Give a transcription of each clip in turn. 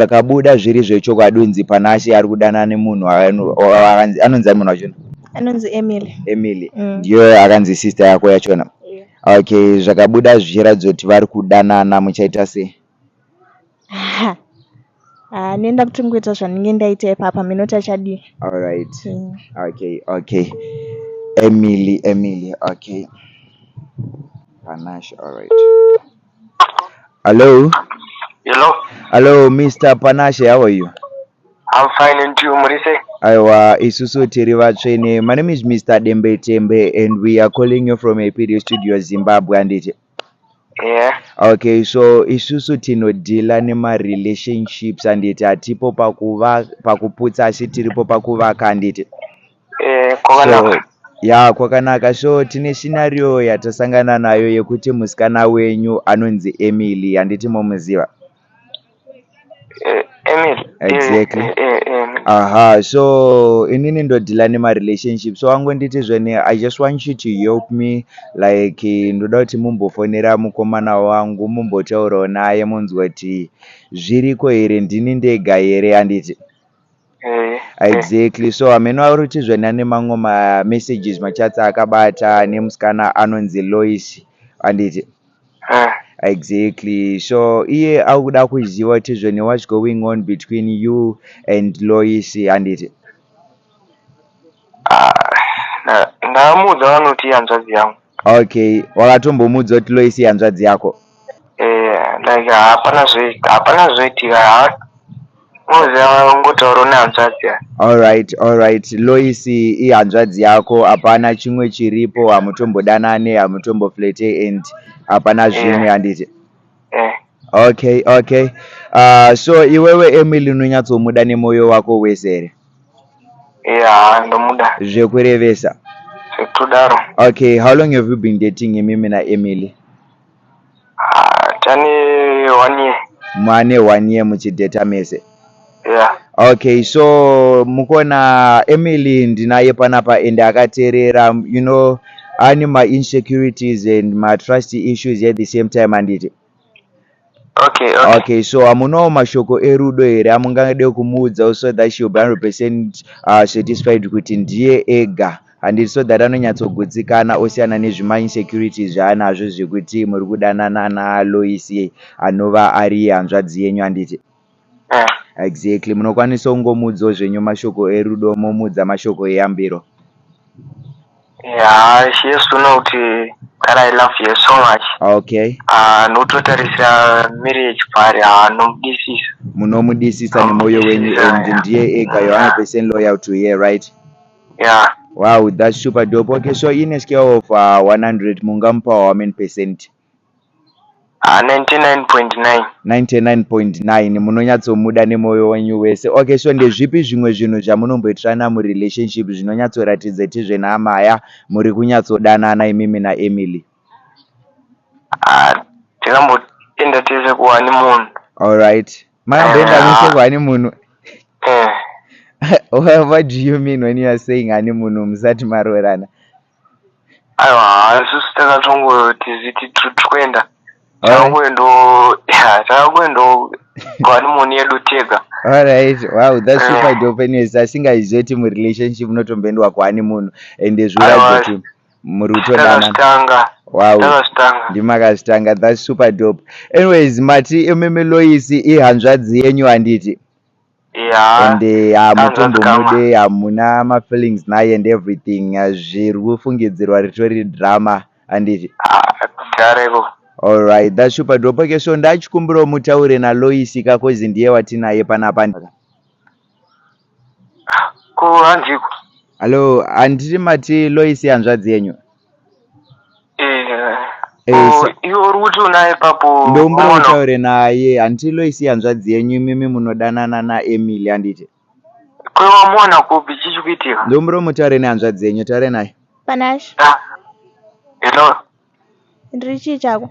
pakabuda zviri zvechokwadi unzi Panashe ari kudanana nemunhu anu- akanzi- anonzi ani munhu wachona anonzi emily emily Mm. ndiyo akanzi sister yako yachona Yeah. okay zvakabuda zvichiratidza kuti vari kudanana muchaita sei Ha. Ah, nenda kuti ngoita zvandinge ndaita ipapa minoti achadii alright Mm. okay okay emily emily okay panash alright Hello. Hello. Hello, Mr. Panashe, how are you? I'm fine and you, Murise? Aiwa, isusu tiri vatsvene. My name is Mr. Dembe Tembe and we are calling you from a PDO studio Zimbabwe and it. Yeah. Okay, so isusu tinodhila nemarelationships handiti hatipo pakuputsa asi tiripo pakuvaka handiti. Eh, kwakanaka. So, ya kwakanaka so tine scenario yatasangana nayo yekuti musikana wenyu anonzi emily handiti momuziva eh, emily eh, exactly eh, eh, eh, aha so inini ndodhila nemarelationship so angonditi zvene i just want you to help me like ndoda kuti mumbofonera mukomana wangu mumbotaurawo naye munzwa kuti zviriko here ndini ndega here handiti Eh, eh. exactly so hameno ari kuti zvena nemamwe mamessages machatsi akabata nemusikana anonzi lois handiti Eh, exactly so iye ari kuda kuziva kuti zvene whats going on between you and lois handiti Ah, ndakamuudza vanoti ihanzvadzi yangu okay wakatombomuudza kuti loisi ihanzvadzi yako eh, like hapana zve hapana zvoitika ha moziva ungotaura nehanzvadzi ya alright alright loisi ihanzvadzi yako hapana chimwe chiripo hamutombodanane hamutomboflete and hapana zvimwe handiti eh, okay okay uh, so iwewe emily unonyatsomuda nemoyo wako wese here Yeah, ndomuda. Zvekurevesa. Zvekutodaro. Okay, how long have you been dating imimi na Emily? Ah, tane one year. Mane one year muchidata mese. Yeah. Okay, so mukona Emily ndinaye panapa and akaterera, you know, ane ma insecurities and ma trust issues at the same time handiti? Okay, okay. Okay, so hamunawo mashoko erudo here amungade kumuudzawo so that she will be 100 percent uh, satisfied kuti ndiye ega handiti so that anonyatsogutsikana osiyana nezvima insecurities zvaanazvo zvekuti muri kudanana naaloisi anova ari hanzvadzi yenyu handiti Exactly munokwanisa kungomuudzawo zvenyu mashoko erudo momuudza mashoko eyambiro. Yeah, she has to know kuti that I love you so much. Okay. Ah, nototarisira marriage pari ah nomudisisa. Munomudisisa nemoyo wenyu and ndiye ega you are percent loyal to her, right? Yeah. Wow, that's super dope. Okay, so in a scale of uh, 100 mungamupawo how many percent? Ha 99.9. 99.9 munonyatsomuda nemoyo wenyu wese ok so ndezvipi zvimwe zvinhu zvamunomboitirana murelationship zvinonyatsoratidza ti zvenamaya muri kunyatsodanana imimi naemily Ha tikamboenda tese kuhani munhu. Alright makamboenda Eh, mese ah. kuhani munhu Eh. Well, what do you mean when you are saying hanimunhu musati maroorana aiwa haa isusu takatongotiziti tikuenda takangoendo takangoendo vanimoni yedu tega alright wow that's super eh. dope anyways asingaizve ti murelationship munotomboendwa kuhani munhu and zviratidza kuti muri kutodana wow ndimakazvitanga that's super dope anyways mati imimi loisi ihanzvadzi yenyu handiti Yeah, and eh, hamutombomude hamuna mafeelings naye and everything eh, zviri kufungidzirwa ritori drama handiti dareko alright dashupa drop okay so ndachikumbirawo mutaure naloisi ka kozi ndiye watinaye panapa ko handiko hallo handiti mati loisi hanzvadzi yenyu iwe uri kuti unaye ipapo ndombura utaure naye hanti loisi hanzvadzi yenyu imimi munodanana naemily handiti kwewamuona kupi chichi kuitika ndombura mutaure nehanzvadzi yenyu taure naye panash ah, hello ndiri chii chako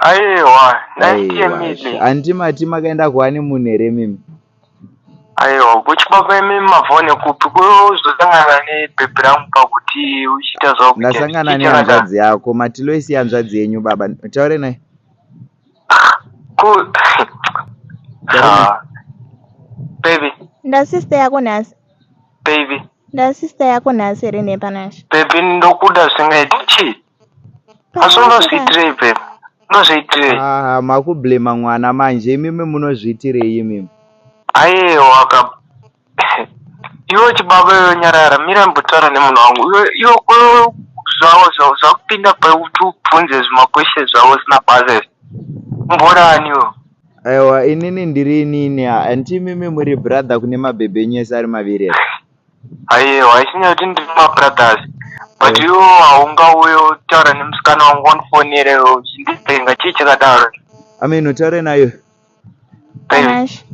Aiwa, nice to meet you. Anti mati makaenda kuani munhu here mimi? Aiwa, kuchipapa mimi mavone kupi kuzosangana nebhebhi rangu pakuti uchiita zvakuita. Ndasangana nehanzvadzi yako, mati Loisi hanzvadzi yenyu baba, taure naye. Ku ah. Baby. Nda sister yako nhasi. Baby. Nda sister yako nhasi here nepanashe? Baby ndokuda zvingaita chii? asi unozviitirei babe unozviitirei ah, makublema mwana manje imimi munozviitirei imimi aiwa ka iwe chibaba iwe nyarara mira mbotaura nemunhu wangu iwe zvavo zvavo zvakupinda pakuti ubvunze zvimakweshe zvavo zina basa izvi mboraniwo aiwa inini ndiri inini anti imimi muri brother kune mabhebhe enyu ese ari maviri Ayewa ichinyaya kuti ndiri mabrothers but iwo haungauye utaura nemusikana wangu wandifonere uchindipenga chii chakadaro amen utaure nayo panash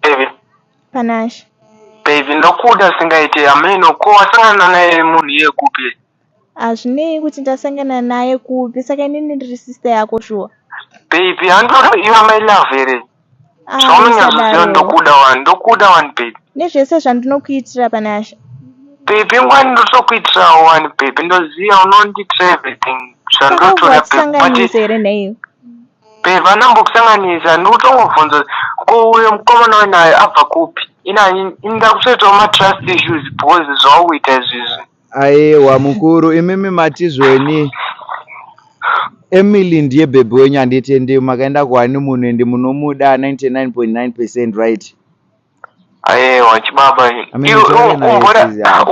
baby panash baby ndokuda singaite amen ko wasangana naye munhu iye kupi Hazvinei kuti ndasangana naye kupi saka inini ndiri sister yako shuwa. Baby handinoda iwe my love here. Ah, Zvaunonyazviziva ndokuda wani ndokuda wani baby. Nezvese zvandinokuitira Panashe. Baby ngwani ndotokuitirawo wani baby ndoziva unondiitira everything zvandotoda baby. here neiwe? Baby anambokusanganisa ndikutongobvunza ko uyo mukomana wenayo abva kupi? Ina ini ndakutoitawo matrust issues because zvaukuita izvizvi. Ayewa mukuru imimi matizweni Emily ndiye bhebhi wenyu handiti ende makaenda kuhani munhu ende munomuda 99.9 percent right ayewa chibaba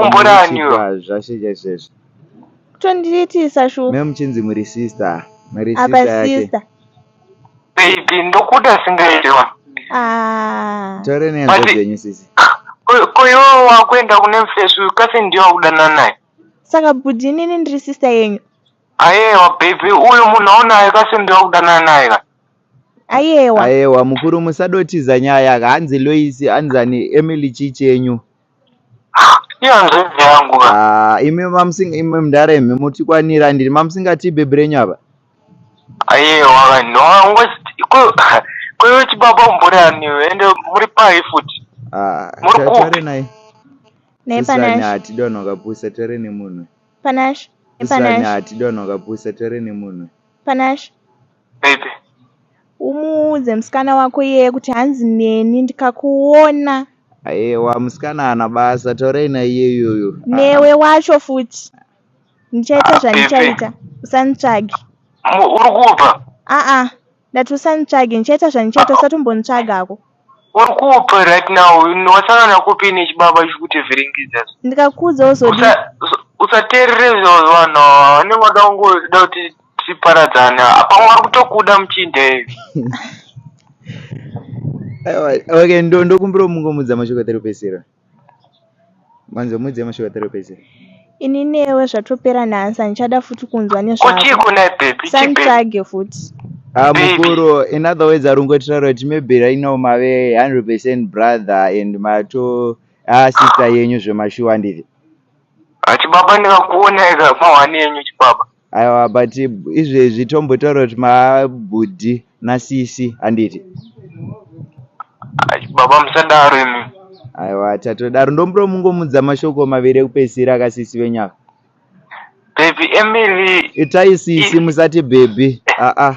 umboraniwo zvashe chaizvezvo tondiitisa shuwa memuchinzi muri sister muri sister yake baby ndokuda singaite wa ah. taure nehanzvadzi yenyu sisi ko iwewe wakuenda kune mfesi uyu kasi ndiye wakudana naye saka bhudhi inini ndiri sista yenyu ayewa baby uyu munhu aunaye kasi ndiye wakudana naye ka ayewa ayewa mukuru musadotiza nyaya hanzi loisi hanzani emily chii chenyu Iyo nzvimbo yangu ka. Ah, imi mamusinga imi mdara imi mutikwanira ndiri mamusingati bhebhi renyu apa. Aye waka no ngochiti ko ko iwe chibaba umbori ani iwe ende muri pai futi. Ah, Muri ta- kupi? taure naye. Nei Sisirani Panashe? hatidonho kapusa taure nemunhu. Panashe? Nei Sisirani Panashe? hatidonho kapusa taure nemunhu. Panashe? Baby. Umuudze musikana wako iyeye kuti hanzi neni ndikakuona. Ayewa musikana ana basa taurei na iyeyoyo. Newe wacho futi. Ndichaita ah, zvandichaita. Usanditsvage. Uri kubva? Aa. Ah, ah. Ndati usanditsvage ndichaita zvandichaita usatombonitsvagako. Uri kupi right now? Wasangana kupi nechibaba chikutevherengedza? Ndikakuudza wozodi. Usaterere izvozvo vanhu vanenge vada kungoda kuti tiparadzane. Apa vari kutokuda muchinda ivi. Okay, ndokumbira mungomudza mashoko atari kupesera. Manje mwedzi yamashuva therapist. Ini newe zvatopera nhasi handichada futi kunzwa nezvako. Santsvage futi. Ah, mukuru in other words ari kungotaura kuti maybe right now mave 100% brother and mato ah sister yenyu zvemashuwa ndizvi. Achibaba ndikakuona ega pahwani yenyu chibaba. Aiwa but izvezvi tombotaura kuti mabhudhi nasisi handiti? Baba musadaro imi. Aiwa tatodaro ndombuda mungomudza mashoko maviri ekupedzisira akasisi venyaka. Baby Emily. Itai sisi musati baby. Ah ah.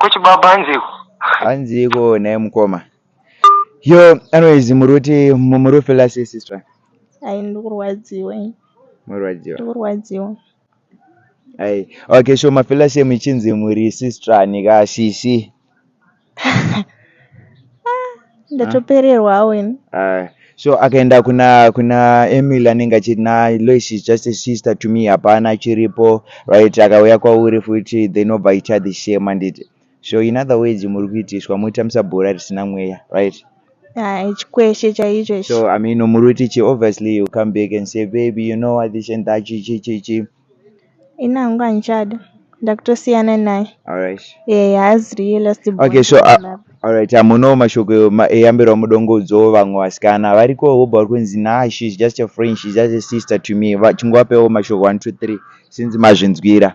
Kuchibaba anziko. Anziko naye mukoma. Yo, anyways muruti muri kufila sei sister? Ai ndikurwadziwa. Murwadziwa. Ndikurwadziwa. Ai, okay, sure mafila sei muchinzi muri sister nika shishi. ndatopererwa awo ini Ah, so akaenda kuna kuna emil anenge achiti na lois is just a sister to me hapana chiripo right akauya kwauri futi then obva aita the same handiti so in other words muri kuitiswa muri kutambisa bhora risina mweya right Ah, chikweshe chaicho ichi so i mean muri kuti chi obviously you come back and say baby you know what this and that chi chi chi chi ini hangu handichadi ndakutosiyana naye alright eh haazi riye last born okay so uh, love. alright hamuno mashoko ma- eyambirwa mudongodzo vamwe vasikana variko vobva vari kunzi nah she's just a friend she's just a sister to me Va- chingovapewo mashoko 1 2 3 since mazvinzwira